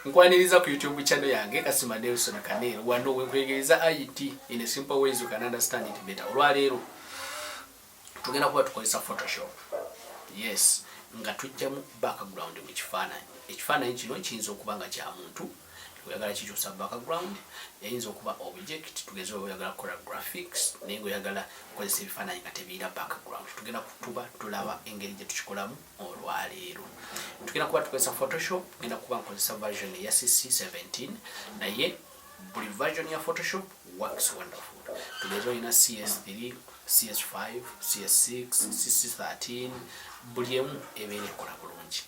Nkwaniriza ku YouTube channel yange Kasima Nelson Kanero wano wenkuyigiriza IT in a simple ways you can understand it better. Olwaleero tugenda kuba tukozesa Photoshop. Yes, nga tujjamu background mu kifaananyi. Ekifaananyi kino kiyinza okuba nga kya muntu oyagala kikyusa background eyinza okuba object tugeze oyagala kukola graphics naye ngaoyagala kukozesa ebifaananyi nga tebiira background tugenda kutuba tulaba engeri gye tukikolamu olwaleero tugenda kuba tukozesa photoshop genda kuba nkozesa version eya cc 17 naye buli version ya photoshop works wonderful tuleeta olina cs3 cs5 cs6 cs13 buli emu ebeera ekola bulungi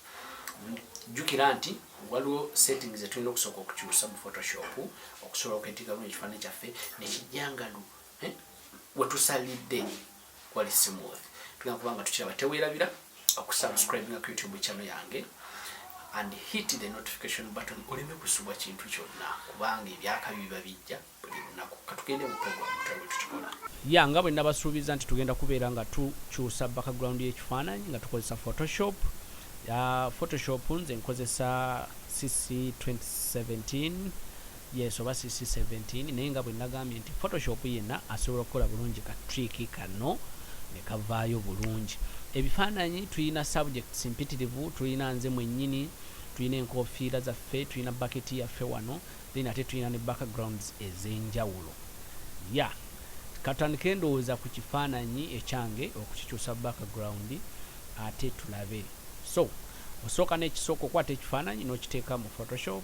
jjukira nti waliwo settings zetulina okusooka okukyusa mu photoshop okusobola okwetika bulungi ekifaananyi kyaffe nekijjangalu eh, wetusalidde wali smooth tugenda kubanga tukiraba teweerabira okusubscribinga ku youtube channel yange and hit the notification button oleme kusubwa kintu kyonna kubanga ebyakabi biba bijja buli lunaku katugende mu program tulabe tukikola ya nga bwe nabasuubiza nti tugenda kubeera nga tukyusa background y'ekifaananyi nga tukozesa photoshop ya photoshop nze nkozesa cc 2017 Yes oba CC 17 naye nga bwenagambye nti photoshop yena asobola okukola bulungi ka trick kano nekavaayo bulungi ebifaananyi tulina subjects mpitirivu tulina nze mwenyini tulina enkofiira zaffe tulina baketi yaffe wano then ate tulina ne backgrounds ezenjawulo ya yeah. katandike ndowooza ku kifaananyi ekyange okukikyusa background ate tulabe so osooka nekisooka okwata ekifaananyi nokiteeka mu photoshop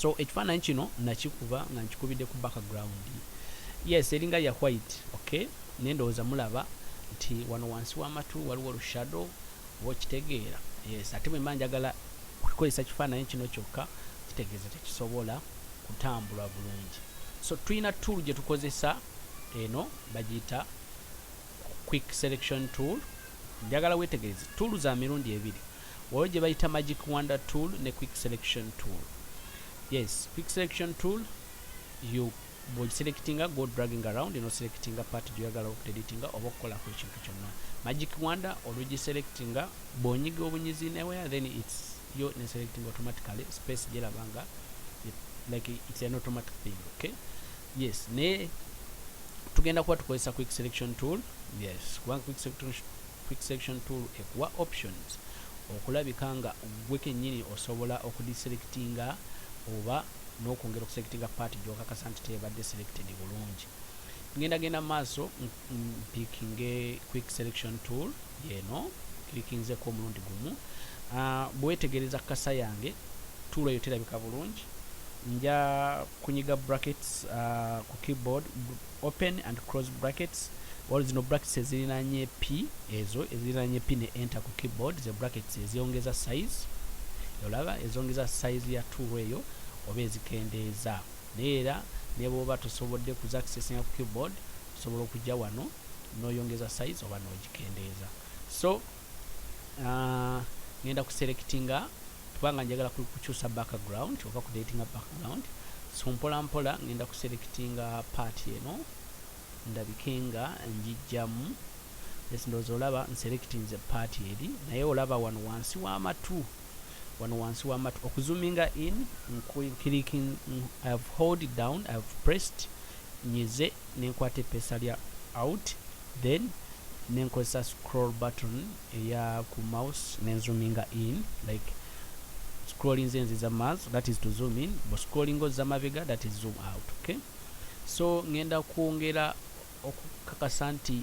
so ekifaananyi kino nakikuba nga nkikubidde ku background yes eringa ya white okay naye ndowooza mulaba nti wano wansi w'amatu waliwo olushado oba okitegeera yes ate bwe mba njagala okukozesa kifaananyi kino kyokka kitegeeza tekisobola kutambula bulungi so tulina tool gye tukozesa eno bagiyita quick selection tool njagala wetegereze tool za mirundi ebiri waliwo gye bayita magic wonder tool ne quick selection tool yes quick selection tool you bwogiselectinga go dragging around no selectinga part gyoyagala okudeditinga oba okukolako ekintu kyonna magic wonder olugiselectinga bwonyiga obunyizi newaya then its yo neselectinga automatically space gyerabanga like it's an automatic thing okay yes ne tugenda kuba tukozesa quick selection tool yes kubanga quick selection Quick Selection tool ekuwa options okulabika nga gwe kenyini osobola okudiselectinga oba nokwongera okuselectinga part gyokakasa nti tebadde selected bulungi. Ngenda genda maaso mpickinge Quick Selection tool yeno clickinzeko omulundi gumu. Uh, bwetegereza kasa yange tool eyo terabika bulungi nja kunyiga brackets uh, ku keyboard open and close brackets waliwo zino brackets ezirinanye p ezo ezirinanye p ne enter ku keyboard ze brackets ezongeza size olaba ezongeza size ya tool eyo oba ezikendeeza naye era nebwoba tosobodde ku accessing ku keyboard osobola okujja wano noyongeza size oba nogikendeeza so Ah, ngenda ku selectinga kubanga njagala kukyusa background oba ku datinga background so mpola mpola ngenda ku selectinga part eno ndabike nga njijjamu yes ndoza olaba nselectinze part eri naye olaba wano wansi w'amatu wano wansi w'amatu okuzuminga in clicking i have hold down i have pressed nyize nenkwata epesa lya out then nenkozesa scroll button eya ku mouse ne zoominga in like scrolling zenzi za maso that is to zoom in bo scrolling oza mabega that is zoom out okay so ngenda kwongera okukakasa nti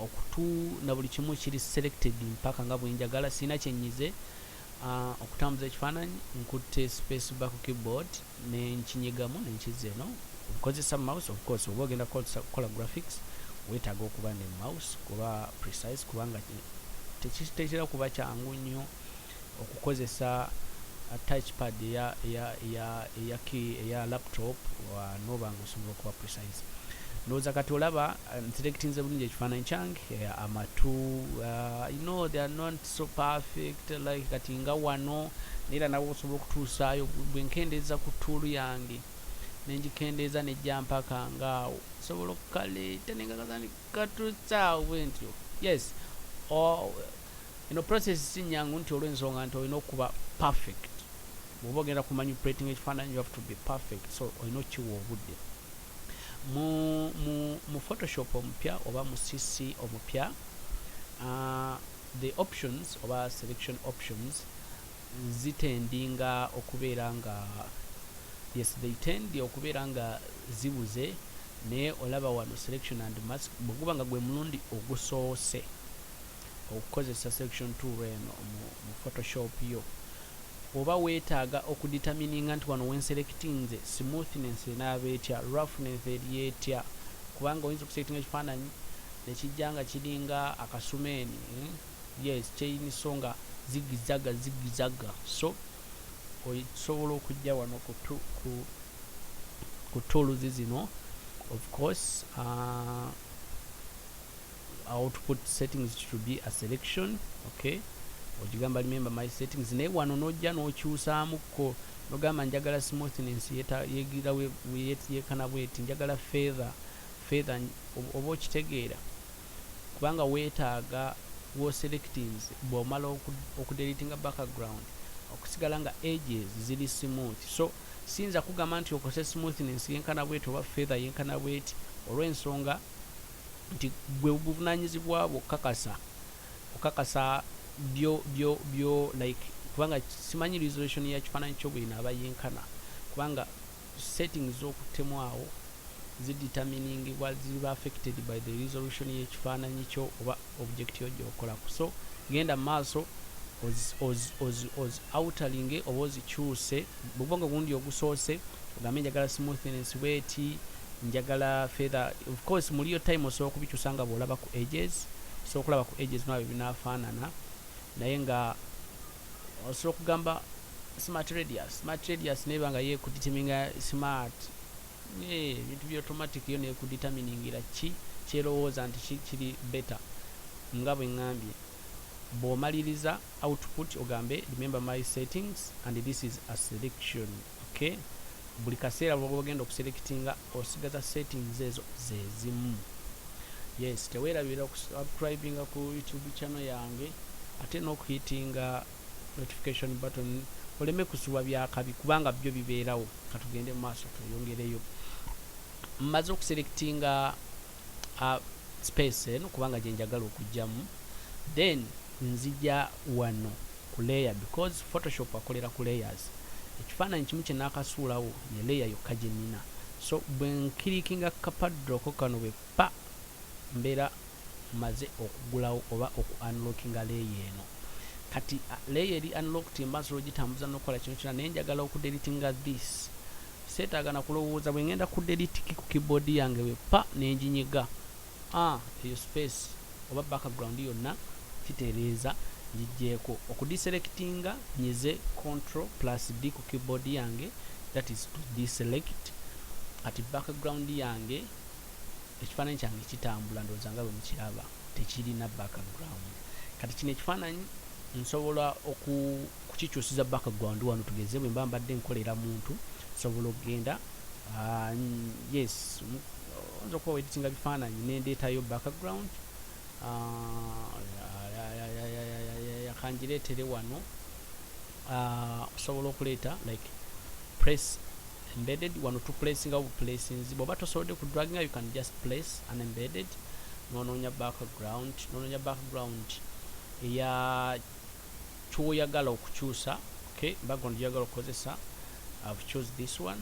okutu na buli kimu kiri selected mpaka nga bwenjagala sina kyenyize uh, okutambuza ekifaananyi nkutte space back keyboard nenkinyigamu nenkizza eno nkozesa mouse of course oba ogenda kola graphics wetaaga okuba ne mouse kuba precise kubanga tekitera kuba kyangu nnyo okukozesa uh, touchpad eya, eya, eya, eya, eya laptop noba nga osobola okuba precise ndowooza kati olaba uh, nselectinze bulungi ekifaananyi kyange uh, amatu uh, you know they are not so perfect like kati nga wano naera nawe osobola okutuusaayo gwe nkendeeza ku tuulu yange nengikendeeza nejja mpaka nga awo osobola okukaleeta nengagatandikatuusaawo bwentyo yes eno process si nyangu nti olw'ensonga nti olina okuba perfect bwoba ogenda kumanipulating ekifaananyi you have to be perfect so olina okukiwa obudde mu, mu, mu photoshop omupya oba mu cc omupya uh, The options oba selection options zitendinga okubeera nga yes they tend okubeera nga zibuze naye olaba wano selection and mask bweguba nga gwe mulundi ogusoose okukozesa selection tool eno mu, mu photoshop yo Oba wetaaga oku determininga nti wano wenselectinze smoothness enaaba etya, roughness eri etya kubanga oyinza okuselectinga ekifaananyi nekijja nga kiringa akasumeeni yes chain so nga zigizzaga zigizzaga so osobola okujja wano ku ku ku tools zino of course uh, awo to put settings to be a selection okay ogigamba remember my settings naye wano nojja nokyusaamukko nogamba njagala smoothness yegira yekana bweti njagala feather feather oba okitegeera kubanga weetaaga woselectings bwomala okudelitinga background okusigala nga ages ziri smooth so siyinza kugamba nti okose smoothness yenkana bweti oba feather yenkana bweti olwensonga nti gwe buvunanyizibwa bwo okukakasa okukakasa byo byo byo like kubanga simanyi resolution ya kifaananyi kyo bwino aba yenkana kubanga setting z'okuttemu awo zideterminingibwa ziba affected by the resolution y'ekifaananyi kyo oba object yo gyokolako so genda maaso outalinge oba ozikyuse bwoba nga ogundi ogusoose ogambe njagala smoothness bweti njagala feather of course muli yo time osobola okubikyusa nga bwolaba ku ages osobola okulaba ku ages nabyo binafaanana naye nga osobola okugamba smart radius smart radius naye banga ye kudeterminga smart Eh, ebintu bya automatic yo nekuditaminingira ki kyerowooza nti ki kiri better nga bwengambye bwomaliriza output ogambe remember my settings and this is a selection okay buli kaseera lwogenda okuselectinga osigaza settings ezo zezimu yes tewerabira okusubscribinga ku youtube channel yange ate nokuhitinga notification button oleme kusubwa byakabi kubanga byo bibeerawo katugende mu maaso tweyongereyo mmaze okuselectinga uh, space eno kubanga gyenjagala okujjamu then nzija wano ku layer because photoshop akolera ku layers ekifaananyi kimu kye naakasuulawo ye layer yokka gye nnina so bwe nkirikinga kapadroko kano bwe pa mbeera maze okugulawo oba oku unlockinga layer eno kati layer eri unlocked mba nsobola ogitambuza nokukola kino kyona naye njagala oku deletinga this setaaga nakulowooza bwengenda ku delete ki ku keyboard yange wepa nenjinyiga ah eyo space oba background yonna kitereeza njijjeeko okudiselectinga nyize control plus d ku keyboard yange that is to deselect kati background yange Ekifaananyi kyange kitambula ndowooza nga bwe mukiraba tekirina background. Kati kino ekifaananyi nsobola okukikyusiza background wano tugeze bwe mba mbadde nkolera muntu nsobola okugenda ah, yes oyinza okuba weditinga bifaananyi nendeetayo background ah, kangireetere wano ah, osobola okuleeta like press embedded wano tu placinga bu placinzi bwoba tosobodde ku draginga you can just place an embedded nononya background nononya background eya kyoyagala okukyusa okay background gyoyagala okukozesa i've choose this one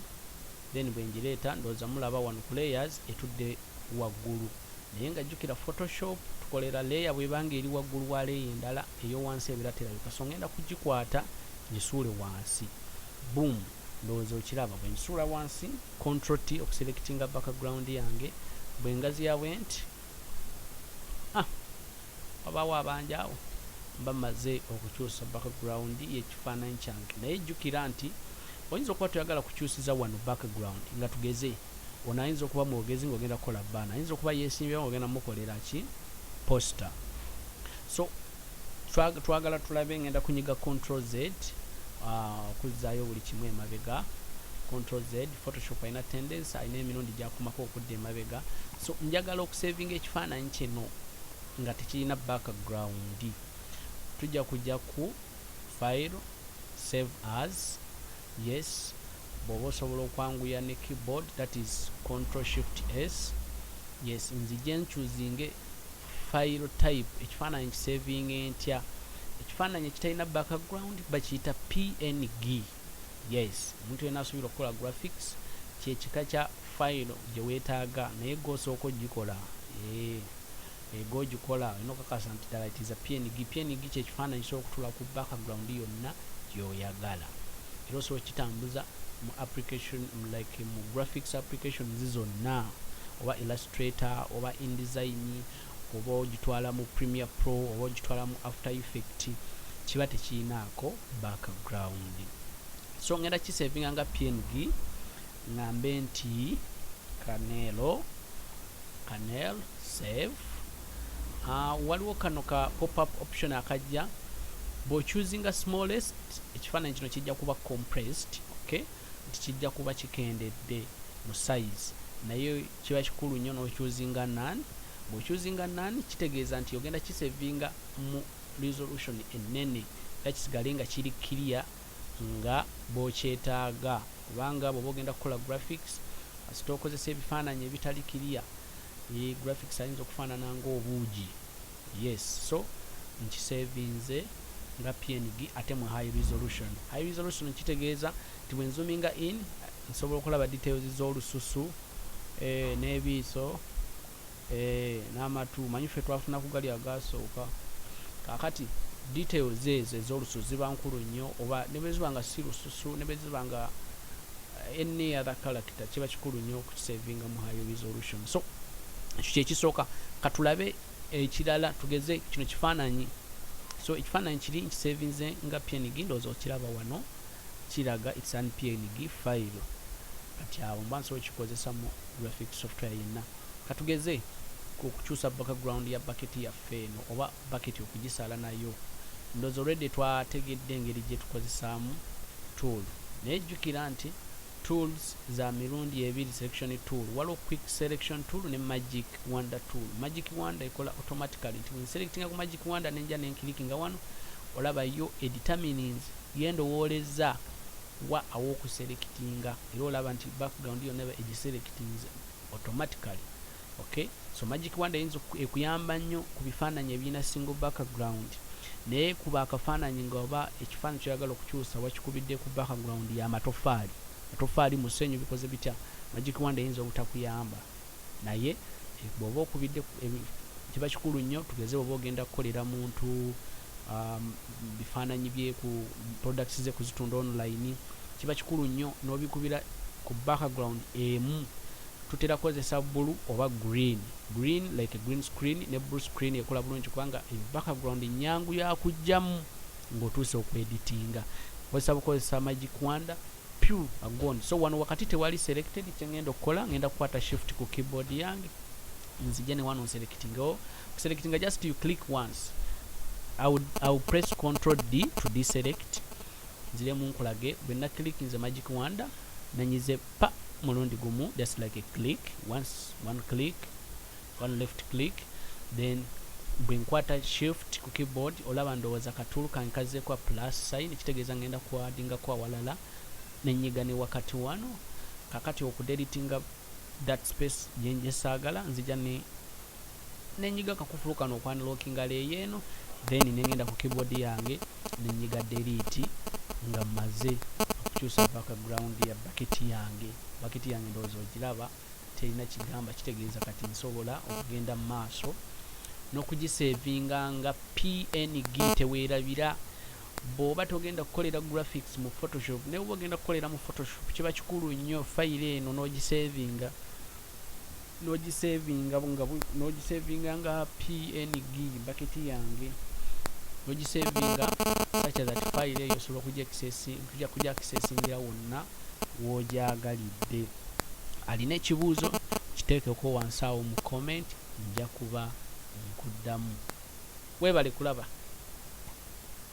then bwenjireeta ndowooza mulaba wano ku layers etudde waggulu naye nga jjukira photoshop tukolera layer bwebanga eri waggulu wa layer endala eyo wansi ebera terabika so ngenda kugikwata ngisuule wansi boom ndowooza okiraba bwensuula wansi control t okuselectinga background yange bwengaziya bwenti ah, wabaawo abanja awo mba maze okukyusa background yekifaananyi kyange naye jjukira nti oyinza okuba toyagala kukyusiza wano background nga tugeze ono ayinza okuba mwogezi ngaogenda kukola baana ayinza okuba yesimbyeo ngaogenda mukolera ki poster so twagala tulabe ngenda kunyiga control z ah, okuzzaayo buli kimu emabega control z photoshop alina tendency alina emirundi gyakomako okudda emabega so njagala okusavinga ekifaananyi kino nga tekirina background tujja kujja ku file save as yes bwoba osobola okwanguya ne keyboard that is control shift s yes nzije nchuzinge File type ekifaananyi nkisevinge ntya? Ekifaananyi ekitalina background bakiyita png. Yes, omuntu yenna asobola okukola graphics kye kika kya file gye weetaaga naye gwe osooka ogikola. Eeh, eh, gwe ogikola olina okakasa nti ddala it is a png. Png kye kifaananyi kisobola okutuula ku background yonna gy'oyagala. Era osobola okukitambuza mu application like mu graphics applications zonna oba Illustrator oba InDesign oba ogitwala mu Premiere Pro oba ogitwala mu After Effect kiba tekirinaako back ground so ngenda kisevinga nga png ngambe nti kanelo kanel save uh, waliwo kano ka popup option akajja bwochuzinga smallest ekifaananyi kino kijja kuba compressed okay nti kijja kuba kikendedde mu size naye kiba kikulu nnyo n'okyuzinga none bw'okyuzinga none kitegeeza nti ogenda kisevinga mu resolution ennene era kisigale nga kiri clear nga bw'okyetaaga kubanga bw'oba ogenda kukola graphics kasita okozesa ebifaananyi ebitali clear e, graphics ayinza okufaanana ng'obuugi yes so nkisevinze nga png ate mu high resolution high resolution kitegeeza nti bwe nzuminga in Nsobola okulaba details zolususu eeh nebiiso eeh namatu manyi ffe twafuna kugali agasooka kakati details ezo ezolususu ziba nkulu nnyo oba nebweziba nga si lususu nebweziba nga any other character kiba kikulu nnyo okukisavinga mu high resolution so ekyo kyekisooka katulabe ekirala tugeze kino kifaananyi so ekifaananyi kiri nkisavinze nga png ndowooza okiraba wano kiraga it's an png file kati awo mba nsobola kikozesa mu graphic software yenna katugeze ku kukyusa background ya bucket yaffe eno oba bucket okugisala nayo ndozo already twategedde engeri gye tukozesaamu tool naye jjukira nti tools za mirundi ebiri selection tool waliwo quick selection tool ne magic wonder tool magic wonder ekola automatically nti wenselectinga ku magic wonder nenja nenkilikinga wano olaba yo edeterminings Ye ndowooleza wa aw'okuselectinga era olaba nti background yonna eba egiselectinze automatically ok so magic wand eyinza ekuyamba nnyo ku bifaananyi ebirina single background naye kuba akafaananyi nga oba ekifaananyi kyoyagala okukyusa wakikubidde ku background ya matofaali matofaali musenyu bikoze bitya magic wand eyinza obutakuyamba Naye bwoba okubidde kiba kikulu nnyo tugeze bwoba ogenda kukolera muntu um, bifaananyi bye ku products ze kuzitunda online kiba kikulu nnyo n'obikubira ku background emu tutera kukozesa bulu oba green green like green screen ne blue screen ekola bulungi kubanga background nyangu yakujjamu ng'otuuse okweditinga kozesa bukozesa magic wanda pure a gone so wano wakati tewali selected kyengenda okukola ngenda kukwata shift ku keyboard yange nzije ne wano selecting o oh, selecting just you click once I would, I would press control D to deselect nzire mu nkulage bwe na click nze magic wonder nanyize pa mulundi gumu just like a click once one click one left click then bwe nkwata shift ku keyboard olaba ndowooza katuulu kange kazzeeko a plus sign kitegeeza ngenda kuadingako awalala nenyiga ne wakati wano kakati okudelitinga that space gyenjesaagala nzija ne nenyiga kakufulu kano okwanlockinga leeyo eno then nengenda ku keyboard yange nenyiga deliti nga maze okukyusa background ya baketi yange baketi yange ndowooza ogiraba terina kigamba kitegeeza kati nsobola okugenda mu maaso n'okugisevinga nga png teweerabira bw'oba togenda kukolera graphics mu photoshop naye oba ogenda kukolera mu photoshop kiba kikulu nnyo fayiro eno n'ogisevinga n'ogisevinga nga n'ogisevinga nga png baketi yange n'ogisevinga sakya that fayiro eyo osobola okugya kisesingira wonna w'ogyagalidde alina ekibuuzo kiteekeko wansi awo mu comment nja kuba nkuddamu. Weebale kulaba.